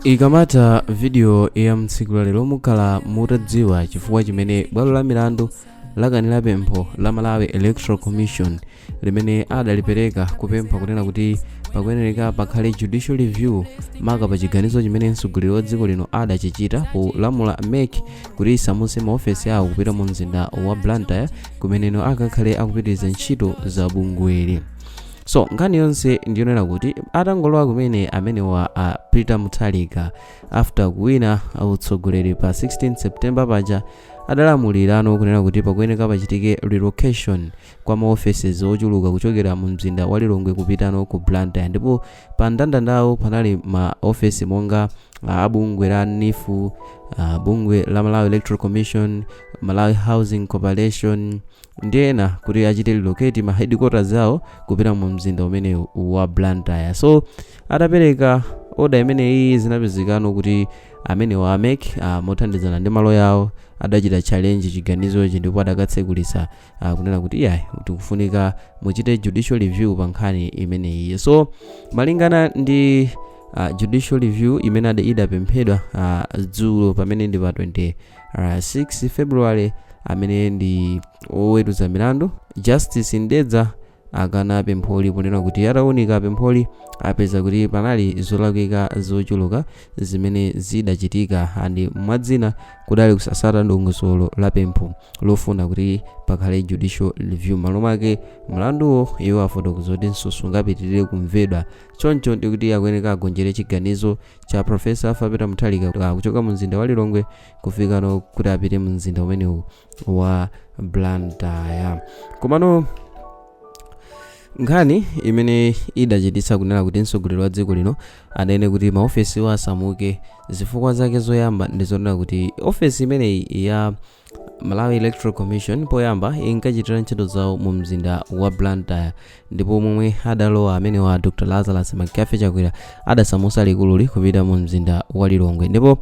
ikamatha vidiyo ya tsiku la lero mukhala mutadziwa chifukwa chimene bwalo la milandu lakanira pempho la malawi electoral commission limene adalipereka kupempha kunena kuti pakuyenereka pakhale judicial review maka pa chiganizo chimene mtsogoleri wa dziko lino adachichita polamula mec kuti isamutse maofesi awo kupita mu mzinda wa blantyre kumeneno akakhale akupitiriza ntchito za bungweli so nkhani yonse ndiyonena kuti atangolowa kumene amenewa a peter mutharika after kuwina utsogoleri pa 16 september paja adalamulirano kunena kuti pakuyeneka pachitike relocation kwa maoffices ochuluka kuchokera mu mzinda wa lilongwe kupitano ku blantyre ndipo pa mndandandawo panali maofesi monga ah, abungwe la neef ah, bungwe la malawi electoral commission malawi housing corporation ndi ena kuti achite relocate ma headquarters awo kupita mu mzinda umenewu wa blantyre so atapereka oda imeneyi zinapezekano kuti amenewa a mec uh, mothandizana ndi maloya awo adachita challenge chiganizochi ndipo adakatsekulisa uh, kunena kuti iyayi tikufunika muchite judicial review pa nkhani imeneyi so malingana ndi uh, judicial review imene ade- idapemphedwa uh, dzulo pamene ndi pa 20 uh, 6 february amene ndi oweruza milandu justice ndedza akana pempholi ponena kuti ataunika pempholi apeza kuti panali zolakwika zochuluka zimene zidachitika andi mwa zina kudali kusatsata ndondomeko la pempho lofuna kuti pakhale judicial review m'malo mwake mlanduwo iwo afotokoza kuti sungapitirire kumvedwa choncho ndikuti akuyeneka agonjere chiganizo cha Professor Arthur Peter Mutharika ah, kuchoka mu mzinda wa Lilongwe kufikano kuti apite mu mzinda umenewu wa Blantyre komano nkhani imene idachititsa kunena kuti mtsogoleri wa dziko lino anene kuti maofesiwa asamuke zifukwa zake zoyamba ndi zonena kuti ofesi imeneyi ya Malawi Electoral Commission poyamba inkachitira ntchito zawo mu mzinda wa Blantyre ndipo momwe adalowa amenewa a Dr Lazarus McCarthy Chakwera adasamusa likululi kupita mu mzinda wa Lilongwe ndipo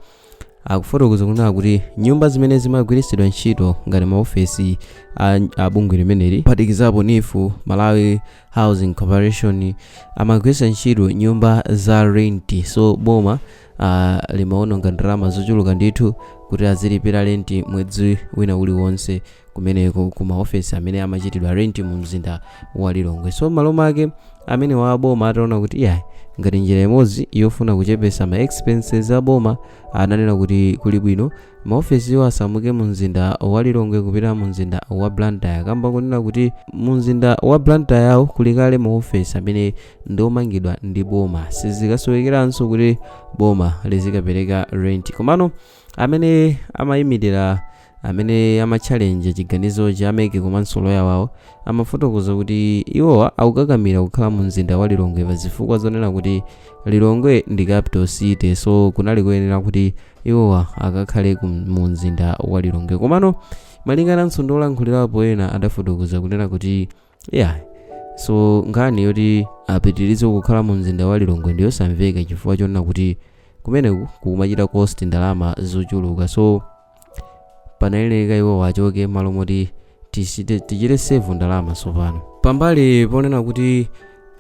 akufotokoza kunena kuti nyumba zimene zimagwiritsidwa ntchito ngati maofesi a, a bungwe limeneli kuphatikizapo neef malawi housing corporation amagwiritsa ntchito nyumba za renti so boma uh, limaononga ndalama zochuluka ndithu kuti azilipira renti mwezi wina uliwonse kumeneko ku maofesi amene amachitidwa renti mu mzinda wa lilongwe so m'malo mwake amenewa aboma ataona kuti iyayi ngati njira imodzi yofuna kuchepesa ma expenses aboma ananena kuti kuli bwino Maofesiwa asamuke mu mzinda wa Lilongwe kupita mu mzinda wa Blantyre kamba konena kuti mu mzinda wa Blantyre awo kuli kale maofesi amene ndi omangidwa ndi boma sizikasowekeranso kuti boma lizikapereka rent komano amene amayimirira amene ama challenge chiganizo cha MEC komanso loya wawo amafotokoza kuti iwowa akukakamira kukhala mu mzinda wa Lilongwe pa zifukwa zonena kuti lilongwe ndi capital city so kunali kuyenera kuti iwowa akakhale ku- mu mzinda wa lilongwe komano malingana ndi olankhulirapo ena adafotokoza kunena kuti iyayi so nkhani yoti apitirize kukhala mu mzinda wa lilongwe ndi yosamveka chifukwa chonena kuti kumeneku kukumachita cost ndalama zochuluka so panayeneka iwo achoke malo moti tichite save ndalama tsopano pambali ponena kuti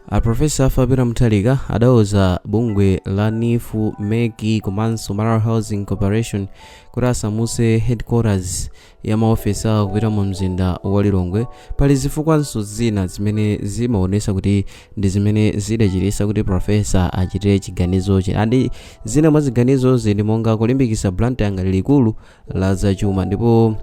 a profesa Arthur Peter Mutharika adauza bungwe la NEEF MEC komanso malawi housing corporation kuti asamuse headquarters ya maofesi awo kupita mu mzinda wa lilongwe pali zifukwanso zina zimene zimaonesa kuti ndi zimene zidachititsa kuti profesa achite chiganizochi andi zina mwa ziganizozi ndi monga kulimbikitsa blantyre ngati likulu la zachuma ndipo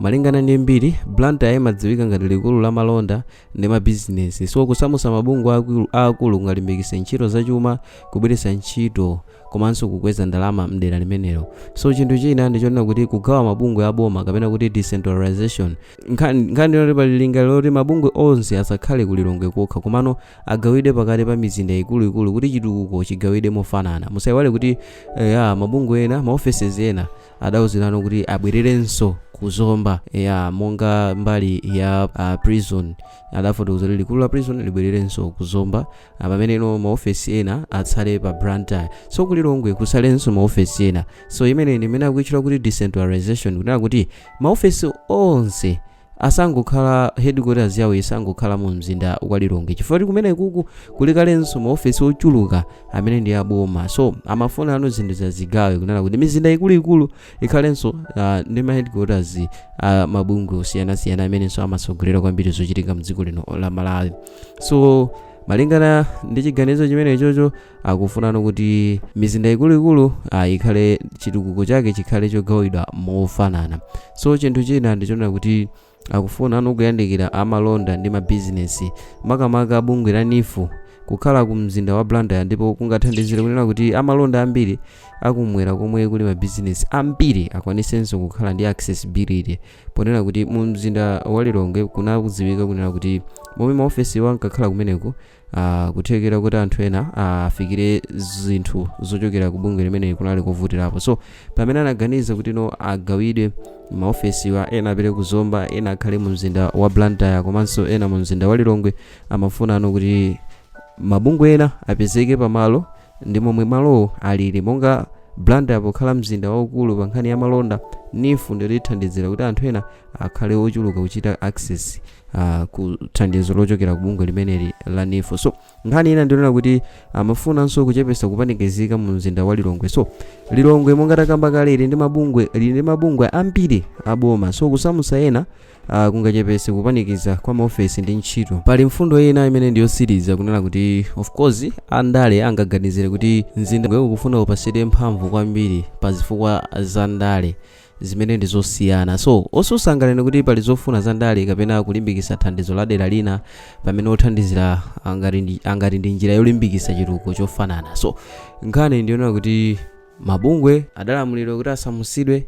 malingana ndi mbiri blantyre imadziwika ngati likulu la malonda ndi mabizinesi so kusamutsa mabungwe akuluakulu kungalimbikitse ntchito zachuma kubweretsa ntchito komanso kukweza ndalama mdera limenelo so chinthu china ndichonena kuti kugawa mabungwe aboma kapena kuti decentralization nkhani ndi yoti pali lingaliro loti mabungwe onse asakhale ku lilongwe kokha komano agawidwe pakati pa mizinda ikuluikulu kuti chitukuko chigawidwe mofanana musayiwale kuti eh, ya mabungwe ena ma offices ena adawuzidwano kuti abwererenso ku zomba ya monga mbali ya uh, prison adafotokoza kuti likulu la prison libwererenso ku zomba ah, pamene ino maofesi ena atsale pa blantyre so ku lilongwe kutsalenso maofesi ena so imeneyi ndi imene akuitchula kuti decentralization kunena kuti maofesi onse asangokhala headquarters yawo isangokhala mu mzinda wa lilongwe chifukwa kuti kumenekuku kuli kalenso maofesi ochuluka amene ndi aboma so amafuna ano zinthu zazigawe kunena kuti mizinda ikuluikulu ikhalenso uh, ndi ma headquarters uh, mabungwe osiyanasiyana amenenso amatsogolera kwambiri zochitika mdziko lino la malawi so malingana ndi chiganizo chimenechocho akufunano kuti mizinda ikuluikulu ah, ikhale chitukuko chake chikhale chogawidwa mofanana so chinthu china ndichonena kuti akufuna ano kuyandikira amalonda ndi mabizinesi makamaka bungwe la NEEF kukhala ku mzinda wa blantyre ndipo kungathandizire kunena kuti amalonda ambiri akumwera komwe kuli mabizinesi ambiri akwanisenso kukhala ndi accessibility ponena kuti mu mzinda wa lilongwe kunakudziwika kunena kuti momwe maofesiwa ankakhala kumeneko Uh, kuthekera kuti anthu ena afikire uh, zinthu zochokera ku bungwe limeneli kunali kovutirapo so pamene anaganiza kuti no agawidwe maofesiwa ena apite ku zomba ena akhale mu mzinda wa blantyre komanso ena mu mzinda wa lilongwe amafunano kuti mabungwe ena apezeke pamalo ndi momwe malowo alili monga blantyre pokhala mzinda waukulu pa nkhani ya malonda neef ndilithandizira kuti anthu ena akhale ochuluka kuchita access uh, ku thandizo lochokera ku bungwe limeneli la neef so nkhani ina ndionera kuti amafunanso kuchepesa kupanikizika mu mzinda wa lilongwe so lilongwe monga takamba kale ili ndi mabungwe ambiri aboma so kusamusa ena uh, kungachepese kupanikiza kwa maofesi ndi ntchito pali mfundo ina imene ndiyosiriza kunena kuti of course andale angaganizire kuti mzinda ukufuna upasidwe mphamvu kwambiri pa zifukwa za ndale zimene ndi zosiyana so osusa anganene kuti pali zofuna za ndale kapena kulimbikisa thandizo la dera lina pamene othandizira angati ndi njira yolimbikisa chitukuko chofanana so nkhani ndiyonena kuti mabungwe adalamulidwa kuti asamusidwe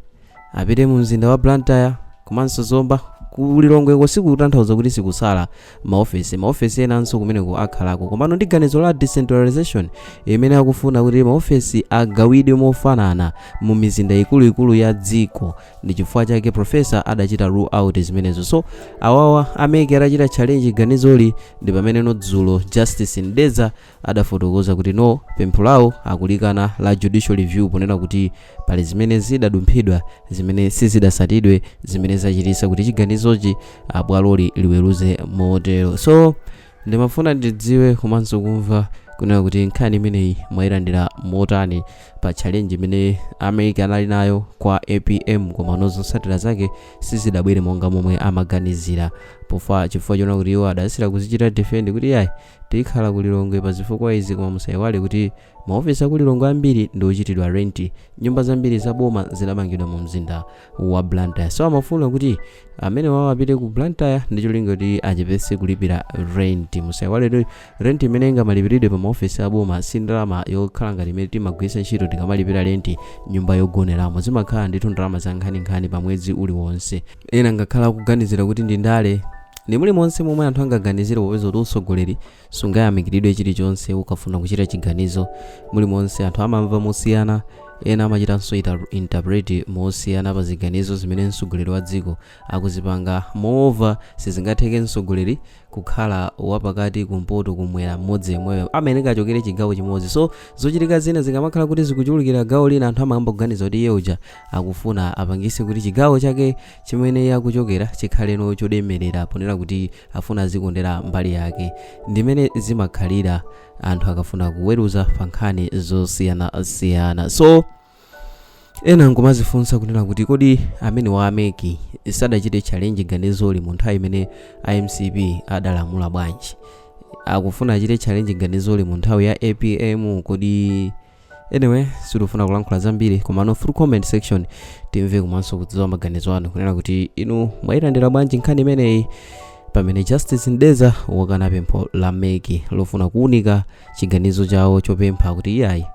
apite mu mzinda wa blantyre komanso zomba kulilongweko sikutanthauza kuti sikusala maofesi maofesi enanso kumeneko akhalako komano ndi ganizo la decentralization imene akufuna kuti maofesi agawidwe mofanana mu mizinda ikuluikulu ya dziko ndi chifukwa chake profesa adachita rule out zimenezo so awawa a mec adachita challenge ganizoli ndi pamene no dzulo justice mdeza adafotokoza kuti no pempho lawo akulikana la judicial review ponena kuti pali zimene zidadumphidwa zimene sizidasatidwe zimene zachitisa kuti chiganizochi bwaloli liweruze motero so ndimafuna ndidziwe komanso kumva kunena kuti nkhani imeneyi mwayilandira motani pa challenge imene a mec anali nayo kwa apm koma no zosatira zake sizidabwere monga momwe amaganizira pofa chifukwa chonena kuti iwo adayesera kuzichita defend kuti iyayi tikhala ku lilongwe pa zifukwa izi koma musaiwale kuti maofesi aku lilongwe ambiri ndi ochitidwa renti nyumba zambiri za boma zidamangidwa mu mzinda wa blantyre so amafuna kuti amenewawo apite ku blantyre ndi cholinga kuti achepese kulipira renti musaiwale renti imene ingamalipiridwe pa maofesi a boma si ndalama yokhala ngati imene timagwiritsa ntchito tikamalipira renti nyumba yogoneramo zimakhala ndithu ndalama za nkhaninkhani pa mwezi uliwonse ena angakhale akuganizira kuti ndi ndale ndi mulimonse momwe anthu angaganizire popeza kuti utsogoleri sungayamikiridwe chilichonse ukafuna kuchita chiganizo mulimonse anthu amamva mosiyana ena amachitanso interpret mosiyana pa ziganizo zimene mtsogoleri wa dziko akuzipanga moreover sizingatheke mtsogoleri kukhala wapakati kumpoto kumwera mmodzi yemweyo amayenera achokere chigawo chimodzi so zochitika zina zikamakhala kuti zikuchulukira gawo lina anthu amayamba kuganiza kuti iye uja akufuna apangise kuti chigawo chake chimene iye akuchokera chikhaleno cholemerera ponena kuti afuna azikondera mbali yake ndimene zimakhalira anthu akafuna kuweruza pa nkhani zosiyanasiyana so Ena nkumazifunsa kunena kuti kodi amene wa ameki sadachite challenge ganizoli mu nthawi imene a mcp ankalamula bwanji? Akufuna achite challenge ganizoli mu nthawi ya apm kodi? Anyway, sitifuna kulankhula zambiri komano through comment section timve komanso kudziwa maganizo anu kunena kuti inu mwayilandira bwanji nkhani imeneyi pamene Justice Mdeza wakana pempho la meki lofuna kuunika chiganizo chawo chopempha kuti iyayi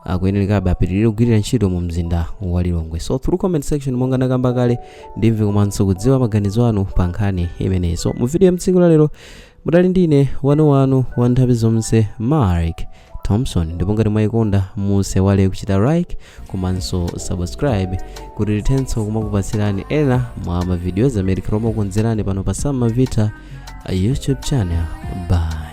akuyenerekabe apitirire kugwirira ntchito mu mzinda wa lilongwe so through comment section monga ndakamba kale ndimve komanso kudziwa maganizo anu pa nkhani imeneyi so mu video ya mtsiku la lero mudali ndine wanu wanu wa nthawi zonse mark thompson ndipo ngati mwayikonda musewale kuchita like komanso subscribe kuti tithenso kumakupatsirani ena mwa mavidiyoz amene tikhala omakonzerani pano pa sam mavita youtube channel bye